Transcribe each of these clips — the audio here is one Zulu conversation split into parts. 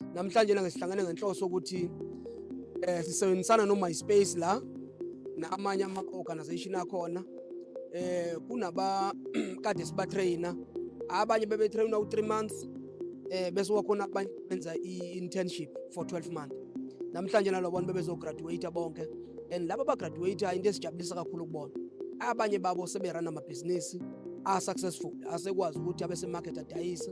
Namhlanje langa sihlangene ngenhloso ukuthi eh sisebenzisana no MySpace la namanye ama organization akhona eh kunaba kade siba trainer abanye bebe trainer u 3 months eh bese wakhona abanye benza i internship for 12 months namhlanje nalo bonke bebezo graduate bonke and laba ba graduate into esijabulisa kakhulu kubona abanye babo seberana amabhizinisi a successful asekwazi ukuthi abe se market adayise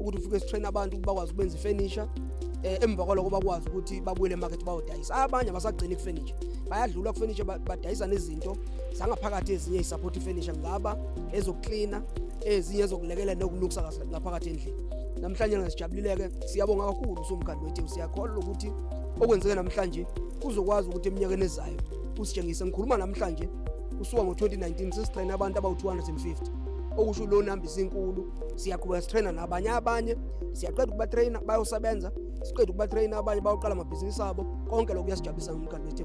ukuthi ufike sitrain abantu ukuthi bakwazi ukwenza ifurniture eh, emva kwaloko bakwazi ukuthi babuyele emarket bayodayisa abanye abasagcini kufurniture bayadlula kufurniture badayisa nezinto zangaphakathi ezinye isupport ifurniture ngaba ezokuklina ezinye ezokulekelela nokulukisa kahle ngaphakathi endlini namhlanje ngasijabulileke siyabonga kakhulu usomkhandlu wethu siyakholwa ukuthi okwenzeke namhlanje kuzokwazi ukuthi eminyakeni ezayo usitshengise ngikhuluma namhlanje kusuka ngo-2019 sesitrayine abantu abawu-250 okusho lona hambisa inkulu siyaqhubeka sitrayina nabanye abanye siyaqeda ukubatrayina bayosebenza siqeda ukubatrayina abanye bayoqala amabhizinisi abo konke lokhu kuyasijabulisa ngomkhandlu wethe